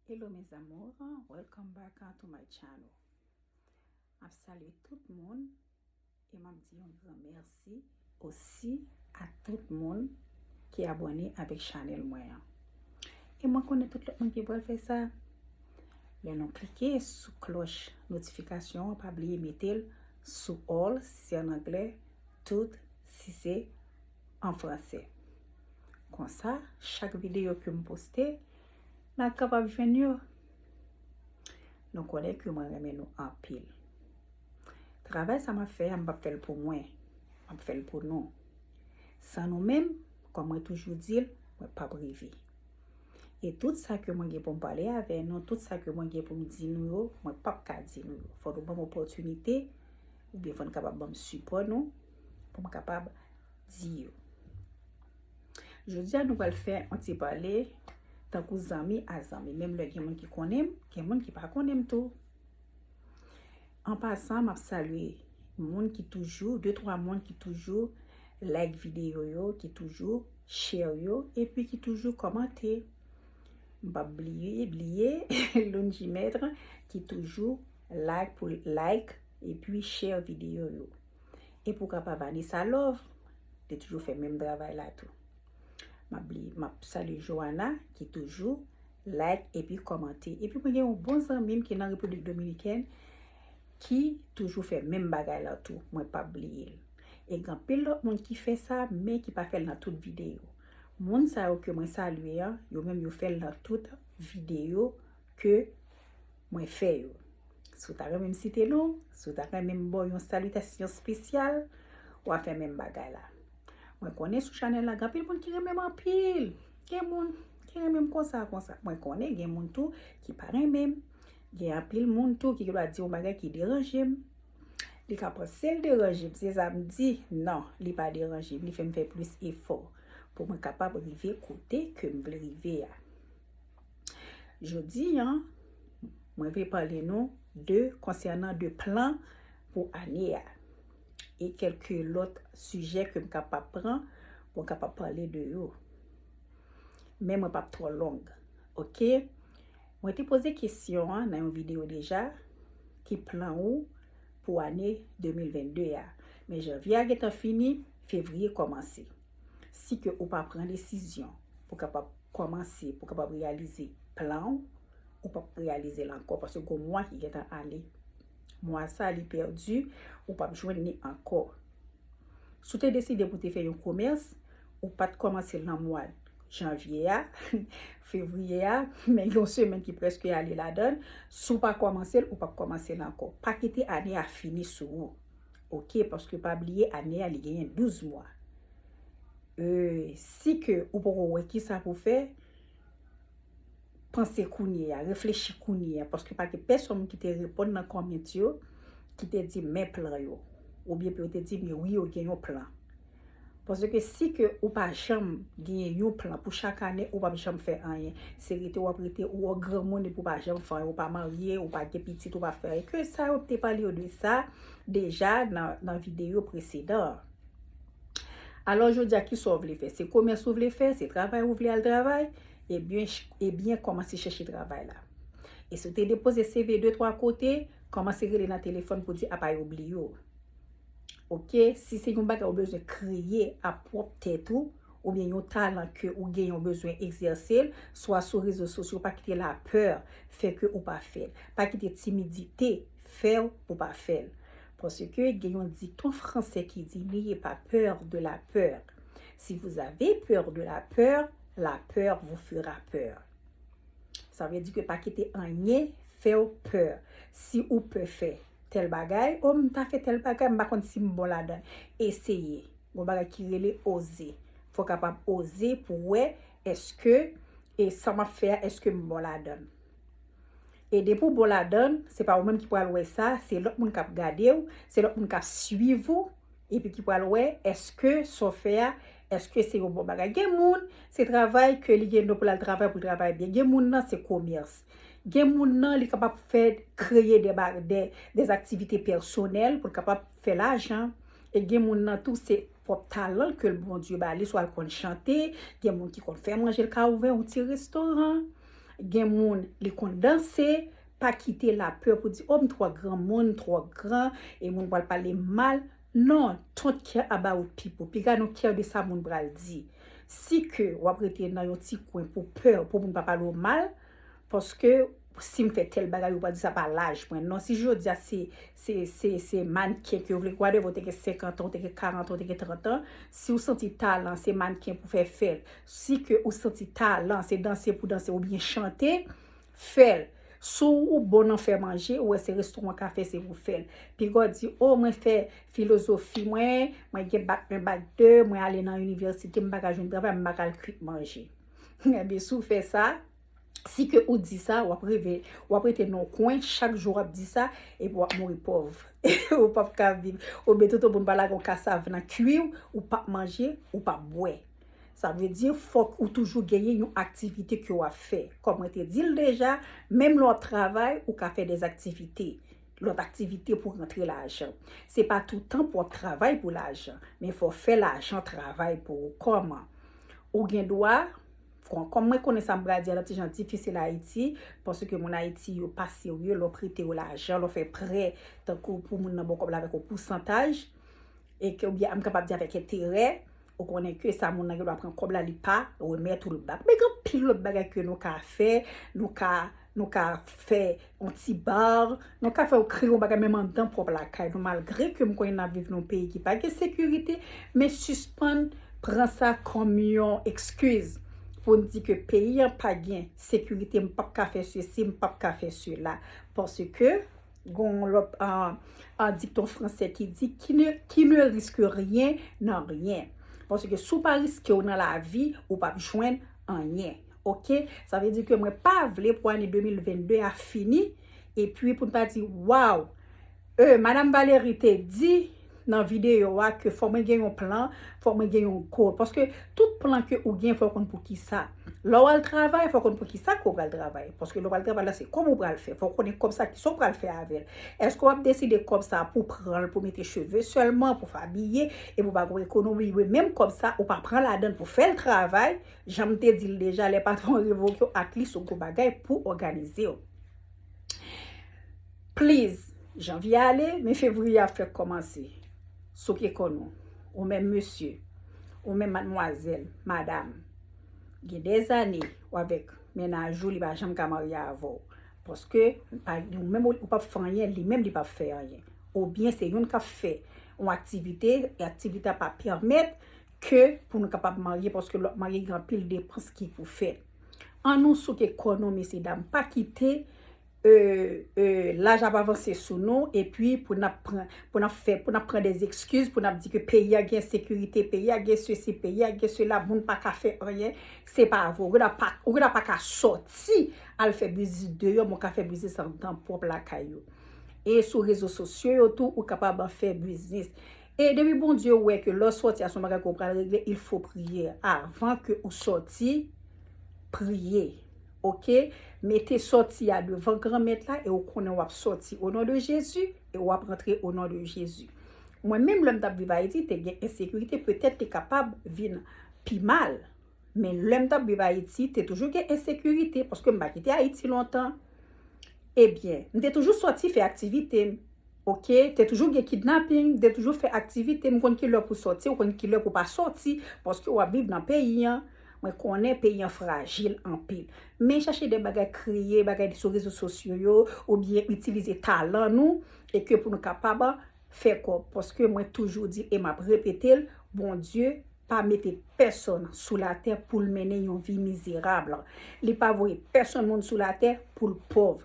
Hello mes amours, welcome back to my channel. Map salye tout moun e map di yon gran merci osi a tout moun ki abone avèk chanel mwen an. E mwen konnen tout lòt moun ki pral fè sa. Lè nou klike sou kloch notifikasyon an, pa bliye metel sou all si se an anglè, tout si se an franse. Konsa, chak videyo ke m poste, nan kapab jwenn yo. Nou konnen ke mwen renmen nou anpil. Travay sa m ap fè a, m p ap fè l pou mwen. M ap fè l pou nou. San nou menm, kòm mwen toujou di l, mwen p ap rive. E tout sa ke mwen gen pou m pale avè nou, tout sa ke mwen gen pou m di nou yo, mwen p ap ka di nou yo. Fò nou ban m opòtinite, oubyen fò n kapab ban m sipò nou. pou m kapab di yo. Jodi a nou pral fè yon ti pale tankou zanmi a zanmi. Menm lè gen moun ki konnen m, gen moun ki pa konnen m tou. An pasan, m ap salye moun ki toujou, de twa moun ki toujou like videyo yo, ki toujou share yo, epi ki toujou komante. M pa bliye, bliye, loun di mètre ki toujou like pou like epi share videyo yo. E pou kapa Vanessa Love, li toujou fè menm travay la tou. M ap salye Joana ki toujou like epi kòmante. Epi mwen gen yon bon zanmi m ki nan Repiblik Dominikèn ki toujou fè menm bagay la tou. Mwen pa bliye l. E gen anpil lòt moun ki fè sa men ki pa fè l nan tout videyo. Moun sa yo ke mwen salye an, yo menm yo fè l nan tout videyo ke mwen fè yo. Si w ta renmen m site non, si w ta renmen m ba w yon salitasyon spesyal, w a fè menm bagay la. Mwen konnen sou chanèl la, gen anpil moun ki renmen m anpil. Gen moun ki renmen m konsa konsa. Mwen konnen gen moun tou ki pa renmen m. Gen anpil moun tou ki gen dwa di yon bagay ki deranje m. Li ka panse l deranje m, se sa m di. Non, li pa deranje m. Li fè m fè plis efò pou mwen kapab rive kote ke m vle rive a. Jodi an, mwen vle pale nou de konsènan de plan pou ane a. E kelke lòt sijè ke m kapab pran pou m kapab pale de yo. Men mwen pap twò long. Ok? Mwen te poze kesyon an nan yon video deja, ki plan ou pou ane 2022 a? Men janvye a gentan fini, fevriye kòmanse. Si ke ou pa pran desizyon pou kapab kòmanse, pou kapab reyalize plan ou, ou pap reyalize l ankò paske gon mwa ki gen tan ale. Mwa sa li pèdi, ou pap jwenn ni ankò. Si w te deside pou te fè yon komès, ou pat kòmanse l nan mwa janvye a, fevriye a, men yon semèn ki prèske ale ladan, si w pa kòmanse l, ou pap kòmanse l ankò. Pa kite ane a fini sou ou. ok paske pa bliye ane a li genyen 12 mwa euh si ke ou poko wè kisa pou fè panse kounye ya reflechi kounye ya paske pa gen pèsonn ki te reponn nan kòment yo ki te di men plan yo oubyen pou yo te di men wi yo gen yon plan Paske si ke ou pa janm genyen yon plan pou chak ane ou pap janm fè anyen. Se rete wap rete ou an granmoun epi ou pa janm fè anyen. Ou pa marye, ou pa gen pitit, ou pa fè anyen. Ke sa yo te pale yo de sa deja nan videyo presedan an. Alò jodi a kisa ou vle fè? Se komès ou vle fè? Se travay ou vle al travay? Ebyen kòmanse chèche travay la. E si ou te depoze CV 2, 3 kote, kòmanse rele nan telefòn pou di apa yo bliye ou. Ok, si se yon bagay ou bezwen kreye a pwòp tèt ou, oubyen yon talan ke ou genyen ou bezwen egzèse l, swa sou rezo sosyo, pa kite lapè fè ke ou pa fè l. Pa kite timidite fè w pou pa fè l. Paske gen yon dikton fransè ki di, N'ayez pas peur de la peur. Si vous avez peur de la peur, la peur vous fera peur. Sa vle di ke pa kite anyen fè w pè. Si ou pè fè. Tèl bagay, oh m ta fè tèl bagay, m pa konn si m bon ladan l. Eseye. Gon bagay ki rele oze. Fò w kapab oze pou w wè èske e sa m ap fè a èske m bon ladan l. E depi w bon ladan l, se pa ou menm ki pral wè sa, se lòt moun k ap gade w, se lòt moun k ap suiv ou. epi ki pral wè eske sa w fè a, eske se yon bon bagay. Gen moun, se travay ke li gen don pou l al travay, pou l travay byen. Gen moun nan, se komès. Gen moun nan, li kapab fè, kreye de ba, de, de aktivite pèsonèl pou l kapab fè lajan. E gen moun nan tou, se pwòp talan ke Bondye ba li, swa l konn chante, gen moun ki konn fè manje, l ka ouvè yon ti restoran. Gen moun, li konn danse. Pa kite lapè pou di, oh m twò granmoun, m twò gran, e moun pral pale m mal. Non, don't care about people. Piga nou care de sa moun pral di. Si ke w ap rete nan yon ti kwen pou pè pou moun pa pale w mal, paske si m fè tèl bagay yo pral di sa pa laj mwen. Non, si jodi a se, se, se, se mannken ke w vle, whatever, ou te gen 50 an, ou te gen 40 an, ou te gen 30 an, si w santi talan se mannken pou fè fè l, si ke ou santi talan se danse pou danse oubyen chante, Fèl. Si ou bon nan fè manje, ou wè se restauran ka fè se ou fèl. Pigaw di oh mwen fè filozofi mwen, mwen gen bac 1 bac 2, mwen ale nan université m paka jwenn travay m paka al kwit manje. Ebyen si w fè sa, si ke ou di sa wap rive wap rete nan yon kwen chak jou wap di sa epi wap mouri pòv. Ou pap ka viv. Oubyen tout o pou n pa lage yon kasav nan kwi w, ou pap manje, ou pap bwè. Sa vle di fòk ou toujou genyen yon aktivite ke w ap fè. Kòm mwen te di l deja, menm lè w ap travay, ou ka fè des activités, lòt aktivite pou rantre lajan. Se pa toutan pou w ap travay pou lajan, men fò w fè lajan travay pou ou. Kòman? Ou gen dwa, bon, kòm mwen konnen sa m pral di a nan ti jan difisil Ayiti, paske moun Ayiti yo pa serye, lè w prete yo lajan, lè w fè prè, tankou pou moun nan ba w kòb la avèk yon pousantaj, e ke oubyen m kapab di avèk enterè, Ou konnen ke sa moun nan gen dwa pran kòb la li pa remèt ou l bak. Men gen anpil lòt bagay ke nou ka fè, nou ka nou ka fè yon ti bar, nou ka fè yon kreye yon bagay menm andan pwòp lakay nou malgre ke m konnen n ap viv nan yon peyi ki pa gen sekirite men sispann pran sa kòm yon ekskiz pou n di ke peyi an pa gen sekirite m p ap ka fè sesi, m p ap ka fè sela paske. Gon lòt an dikton franse ki di, ki ne riske ryen nan ryen. Pwase ke sou pa riske ou nan la vi, ou pap jwenn anyen. Ok? Sa vle di ke mwen pa vle pou ane 2022 a fini, e pwi pou n ta di, waw, e Madam Valérie te di, nan video a ke fò mwen gen yon plan, fò mwen gen yon goal. Paske tout plan ke ou gen fò konn poukisa. Lè w al travay fò konn poukisa ke w pral travay. Paske lè w al travay la se kòb ou pral fè. Fò konnen kòb sa kisa w pral fè avè l. Eske w ap deside kòb sa pou w pran l pou w mete cheve sèlman, pou w fè abiye, epi w pa gon ekonomi. Oubyen menm kòb sa ou pa pran ladan l pou w fè l travay. Jan m te di l deja lè patwon revoke w atlis ou gon bagay pou òganize w. Please Janvye ale men fevriye ap fèk kòmanse souke kò nou ou menm mesye ou menm madmwazèl madam gen dè zane ou avèk mennaj ou li pa janm ka marye avèw paske ou menm ou pap fè anyen li menm li pap fè anyen oubyen se youn kap fè yon aktivite e aktivite a pa pèmèt ke pou nou kapab marye paske lòt marye gen anpil depans ki pou fèt an nou souke kò nou mesye dam pa kite Laj ap avanse sou nou epi pou nap pran pou nap fè pou nap pran des excuses pou nap di ke peyi a gen ensekirite peyi a gen sesi peyi a gen sela moun pa ka fè anyen se pa vre ou gen dwa pa ou gen dwa pa ka sòti al fè biznis deyò men ou ka fè biznis anndan pwòp lakay ou e sou rezo sosyo yo tou ou kapab ap fè biznis e depi Bondye wè ke lè w sòti a se yon bagay ke w pral regle il fo priye avan ke ou sòti priye Ok mete sòti a devan granmèt la e ou konnen wap sòti o non de Jezi e wap rantre o non de Jezi mwen menm lèm tap viv ayiti te gen ensekirite petèt te kapab vin pi mal men lèm tap viv ayiti te toujou gen ensekirite paske m pa kite ayiti lontan ebyen m te toujou sòti fè aktivite m ok te toujou gen kidnaping m te toujou fè aktivite m konn kilè pou sòti ou konn kilè pou pa sòti paske wap viv nan peyi an. Mwen konnen peyi an frajil anpil. Men chache de bagay kreye, bagay sou rezo sosyo yo, ou byen itilize talan nou, e ke pou nou kapab fè kòb. Paske mwen toujou di e map repete l, Bondye pa mete pèsòn sou latè pou l mennen yon vi mizerab. Li pa voye pèsòn moun sou latè pou l pòv.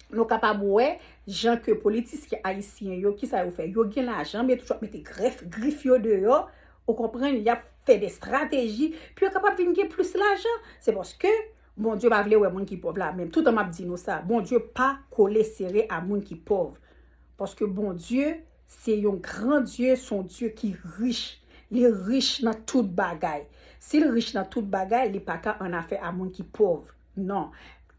Nou kapab wè jan ke politisyen ayisyen yo, kisa yo fè? Yo gen lajan men yo toujou ap mete grèf, grif yo deyò. Ou konprann? Y ap fè de strateji pou yo kapab vin gen plis lajan. Se paske Bondye pa vle wè moun ki pòv la. Men toutan m ap di nou sa, Bondye pa kole sere a moun ki pòv. Paske Bondye se yon gran Dye, se yon Dye ki rich. Li rich nan tout bagay. Si l rich nan tout bagay, li pa ka annafè a moun ki pòv. Non.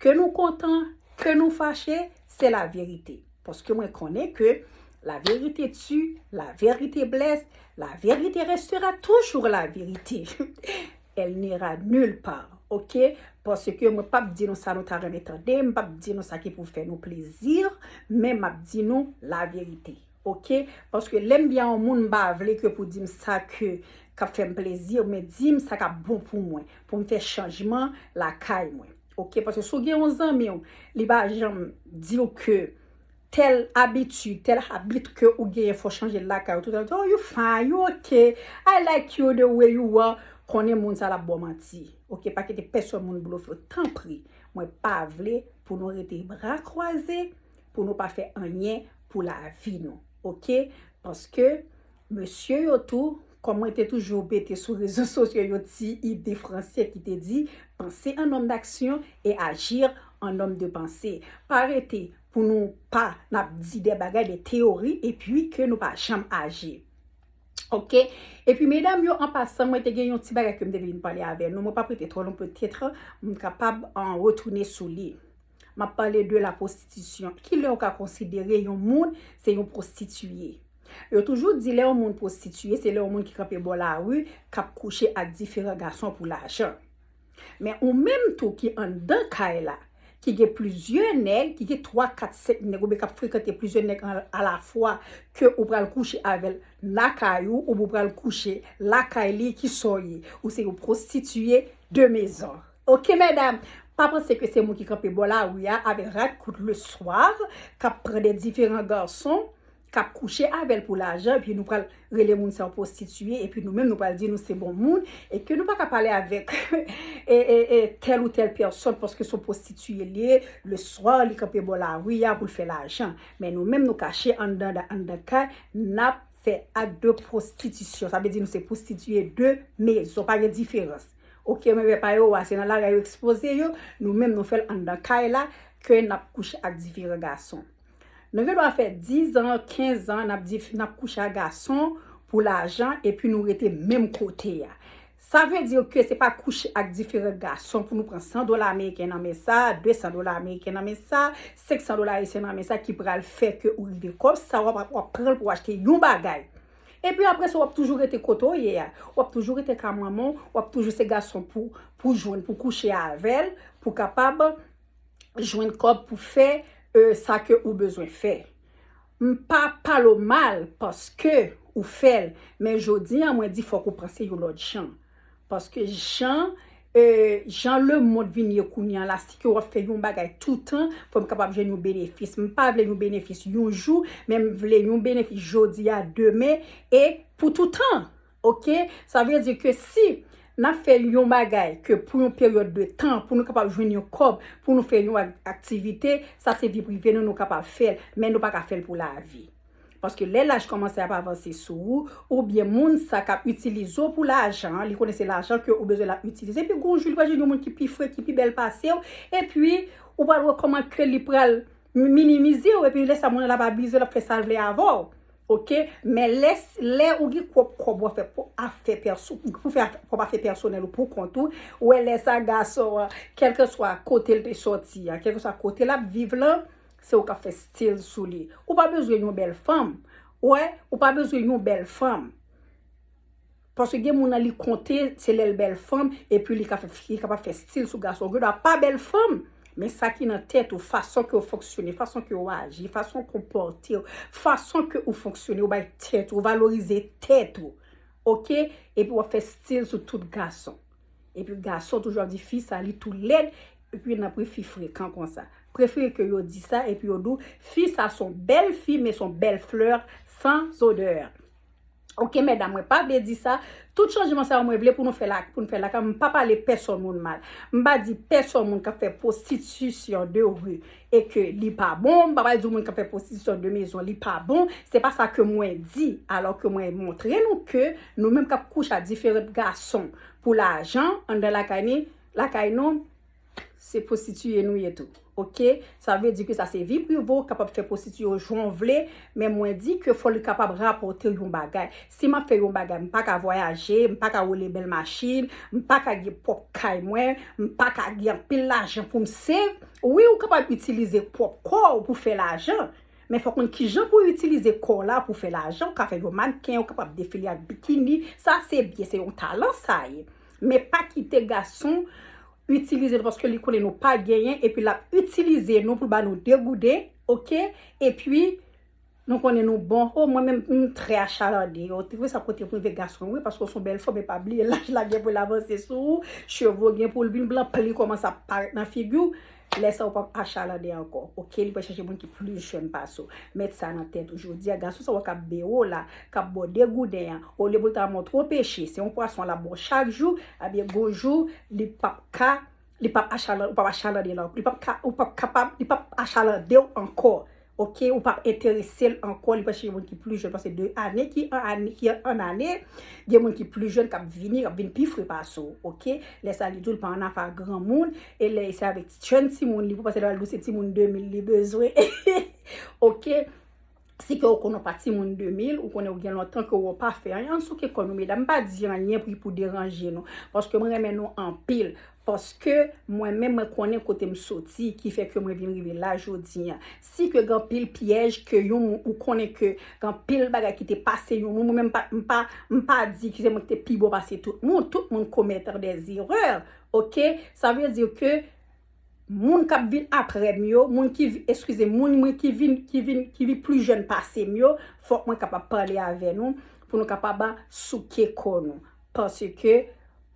Ke nou kontan, ke nou fache, se la verite. Paske mwen konnen ke la verite tu, la verite blesse, la verite restera toujours la verite. Elle n'ira nulle part. Ok? Paske mwen pap di nou sa nou ta renmen tande, m pap di nou sa ki pou fè nou plezi, men map di nou la verite. Ok paske lem byen yon moun mpa vle ke pou dim sa ke kap fem plezi men dim sa kap bon pou mwen poum fe chanjman lakay mwen ok paske sou gen yon zanmiw li pa janm diw ke tel abitid tel habit ke ou genyen fo chanjel lakay ou tout etan oh you fine you ok I like you the way you are konnen moun sa lap baw manti ok pa kite peson moun blofew tanpri mwen pa vle pou nou rete bra kwaze pou nou pa fè anyen pou lavi nou ok paske mesye yo tou kòm mwen te toujou bete sou rezo sosyo yon ti ide franse ki te di panse an nòm daksyon e ajir an nòm de panse pa rete pou nou pa nap di de bagay de teyori epi ke nou pa janm aji ok epi medam yo an pasan mwen te gen yon ti bagay ke m te vin pale avè nou mwen pa prete twò lonpon tèt m kapab an retounen sou li. M ap pale de la pwostitisyon. Ki lè ou ka konsidere yon moun se yon pwostitiye? Yo toujou di lè yon moun pwostitiye, se lè yon moun ki kanpe bò lari, k ap kouche ak diferan gason pou lajan. Men ou menm tou ki anndan kay la, ki gen plizyè nèg, ki gen 3, 4, 5 nèg oubyen k ap frekante plizyè nèg alafwa ke ou pral kouche avè l lakay ou oubyen ou pral kouche lakay li, ki sa w ye? Ou se yon pwostitiye de mezon. Ok medam, pa panse ke se mwen ki kanpe bò lari a avèk rad kout le soir, kap pran de diferan garson, kap kouche avèl pou lajan, epi nou pral rele moun sa yo pwostitiye, epi nou menm nou pral di nou se bon moun, e ke nou pa ka pale avèk tèl ou tèl pèsòn paske son pwostitiye li ye, le soir li kanpe bò lari a pou l fè lajan. Men nou menm nou kache anndan kay, nap fè ak de pwostitisyon. Sa vle di nou se pwostitiye de mezon, pa gen diferans. Ok mwen vè pa yo wa se nan lari yo ekspoze yo, nou menm nou fèl anndan kay la ke nap kouche ak diferan gason. Nou gen dwa fè 10 ans, 15 ans nap di nap kouche ak gason pou lajan epi nou rete menm kote a. Sa vle di ke se pa kouche ak diferan gason pou nou pran 100 dola ameriken nan men sa, 200 dola ameriken nan men sa, 500 dola ayisyen nan men sa ki pral fè ke ou rive kòb sa wap pranl pou achte yon bagay. Epi apre sa w ap toujou rete kote w ye a. W ap toujou rete ka manman w, w ap toujou se gason pou w jwenn pou w kouche avè l, pou w kapab jwenn kòb pou w fè sa ke ou bezwen fè. M pa pale w mal paske ou fè l, men jodi an mwen di fòk ou panse yon lòt jan. Paske jan Jan le mond vin ye kounya la si ke wap fè yon bagay toutan fòm kapab jwenn yon benefis m pa vle yon benefis yon jou men m vle yon benefis jodi a demen e pou toutan ok sa vle di ke si nap fè yon bagay ke pou yon peryòd de tan pou nou kapab jwenn yon kòb pou nou fè yon aktivite sa se vi prive nou nou kapab fèl men nou pa ka fèl pou lavi. Paske lè laj kòmanse ap avanse sou ou, oubyen moun sa k ap itilize w pou lajan an, li konnen se lajan ke ou bezwen l ap itilize, epi gon jou li pral jwenn yon moun ki pi fre, ki pi bèl pase w, epi ou pral wè kòman ke li pral minimize w, epi lè sa moun nan ap abize w, l ap fè sa l vle avè w. Ok, men lè, lè ou gen pwòp kòb w ap fè pou afè pèso, pou fè pwòp afè pèsonèl ou pou kont ou, ou wè lè sa gason an, kèlkeswa kote l te sòti an, kèlkeswa kote l ap viv lan, Se ou kap fè stil sou li. Ou pa bezwen yon bèl fanm. Ou wè, ou pa bezwen yon bèl fanm. Paske gen moun nan li konte se lèl bèl fanm epi li kapab fè stil sou gason. Gen dwa pa bèl fanm, men sa ki nan tèt ou, fason ke ou fonksyone, fason ke ou aji, fason ou konpòte ou, fason ke ou fonksyone, ou bay tèt ou, ou valorize tèt ou. Ok? Epi wap fè stil sou tout gason. Epi gason toujou ap di fi sa li tou led epi nan pri fi frekan konsa. Prefere ke yo di sa epi yo di w fi sa son bel fi men son bel fleur san odeur. Ok medam mwen pa vle di sa, tout chanjman sa yo mwen vle pou nou fel ak pou nou fel lakay mwen m pa pale peson moun mal. M pa di peson moun kap fe prostitution de rue. e ke li pa bon, m pa pral di w moun kap fè pwostitisyon de mezon li pa bon, se pa sa ke mwen di, alò ke mwen montre nou ke nou menm kap kouche a diferant gason pou lajan anndan lakay ni, lakay nou, se pwostitiye nou ye tou, ok, sa vle di ke sa se vi prive w, kapab fè pwostitiye w jan w vle, men mwen di ke fò li kapab rapòte w yon bagay, Si m ap fè yon bagay, m pa ka vwayaje, m pa ka woule bèl machin, m pa ka gen pwòp kay mwen, m pa ka gen anpil lajan pou m save. Wi, ou kapab itilize pwòp kò ou pou fè lajan, men fòk konn kijan pou itilize kò w la pou fè lajan. Ou ka fè yon mannken, ou kapab defile ak bikini, sa se byen, se yon talan sa ye. Men pa kite gason itilize nou paske li konnen nou pa genyen epi l ap itilize nou pou l ba nou degouden, oke, epi. Nou konnen nou bon. Oh mwen menm m trè achalarde yo te vre sa kote pou rive gason wi paske w son bèl fanm epa bliye laj la gen pou l avanse sou ou cheve w gen pou l vin blan pli kòmanse ap parèt nan figi w lè sa ou pap achalarde ankò ok li pral chache moun ki plis jèn pase w met sa nan tèt ou jodi a gason sa wè kap bere w la kap ba w degouden an olye pou l ta montre w peche se yon pwason lap ba w chak jou ebyen gon jou li pap ka li pap achalan ou pap achalandel ankò li pap ka ou pap kapab li pap achalandew ankò ok ou pap enteresel ankò li pral chèche moun ki pli jèn pase 2 ane ki an ane ki an ane gen moun ki pli jèn kap vini kap vin pi fre pase w ok lè sa li diw pa anafè ak granmoun e lè se avèk jèn timoun li pou pase lè pral diw se timoun 2000 li bezwen ok. Si ke ou konnen ou pa timoun 2000, ou konnen ou gen lontan ke ou pa fè anyen, ann souke kò nou medam. M pa di anyen pou pou deranje nou. Paske mwen renmen nou anpil. Paske mwen menm mwen konnen kote m soti ki fè ke mwen vin rive la jodi an. Si ke gen anpil pyèj ke yon moun ou konnen ke gen anpil bagay ki te pase yon moun, mwen menm m pa m pa di ke se mwen ki te pi bon pase tout moun. Tout moun komèt dè zerè. Ok? Sa vle di ke. Moun kap vin aprèm yo, moun ki, eskize, moun mwen ki vin, ki vin, ki vin pli jèn pasem yo, fòk mwen kapab pale avè nou, pou nou kapab souke kò nou. Paske,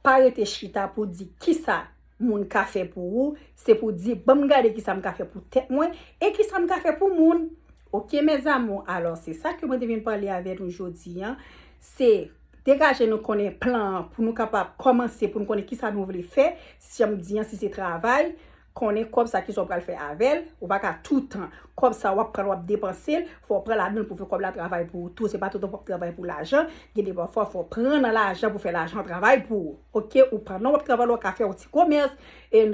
pa rete chita pou di kisa moun ka fè pou ou, se pou di banm gade kisa m ka fè pou tèt mwen, e kisa m ka fè pou moun. Ok mes amours, alò se sa ke mwen te vin pale avè nou jodi an, se degaje nou konnen plan an pou nou kapab kòmanse pou nou konnen kisa nou vle fè, Janm di an si se travay, konnen kòb sa kisa w pral fè avè l, ou pa ka toutan kòb sa wap pran wap depanse l, fò w pran ladan l pou fè kòb la travay pou ou tou, se pa toutan pou w ap travay pou lajan, gen de pafwa fò w pran nan lajan pou fè lajan travay pou ou ok, ou pandan wap travay la w ka fè yon ti komès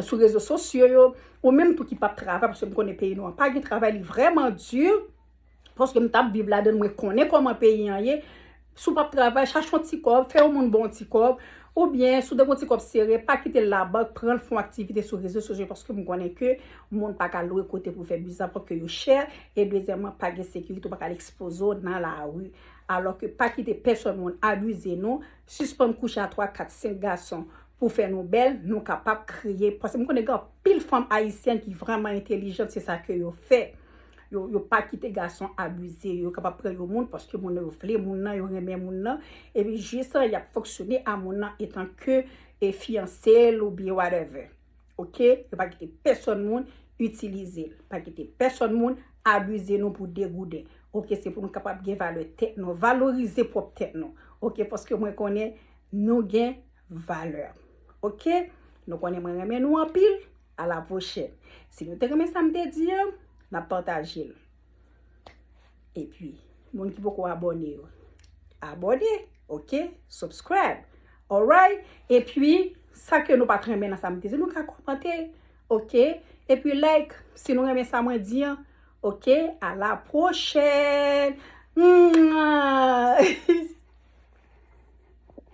sou rezo sosyo yo, ou menm tou ki pap travay paske m konnen peyi nou an pa gen travay li vrèman di. Paske m tap viv ladann mwen konnen koman peyi an ye si w pap travay chache yon ti kòb fè yon moun ba w yon ti kòb oubyen si w ta gen yon ti kòb sere pa kite l labank pran l fè yon aktivite sou rezo sosyo paske m konnen ke moun pa ka lwe kote pou fè biznis apre ke yo chè e dezyèman pa gen sekirite ou pa ka al ekspoze w nan lari alò ke pa kite pèsòn moun abize nou sispann kouche a 3 4 5 gason pou fè nou bèl nou kapab kreye paske m konnen gen anpil fanm ayisyèn ki vrèman entelijant se sa ke yo fè. yo pa kite gason abize yo, yo kapab pran yon moun paske moun nan yo vle moun nan, yo renmen moun nan, epi jis lan yap fonksyone a moun nan etan ke e fiyanse l ou byen whatever. Ok, yo pa kite pèsòn moun itilize l, pa kite pèsòn moun abize nou pou degouden. Ok, se pou nou kapab gen valè tèt nou, valorize pwòp tèt nou. Ok, paske mwen konnen nou gen valè. Ok, nou konnen mwen renmen nou anpil, A la pwochèn. Si nou te renmen sa m te di an, n ap pataje l. E pi, moun ki poko abòne yo, abòne, ok? Subscribe, alright? E pi, sa ke nou pa t renmen nan sa m te di, nou ka kòmante, ok? E pi like, si nou renmen sa mwen di an, ok? A la pwochèn! Mwah!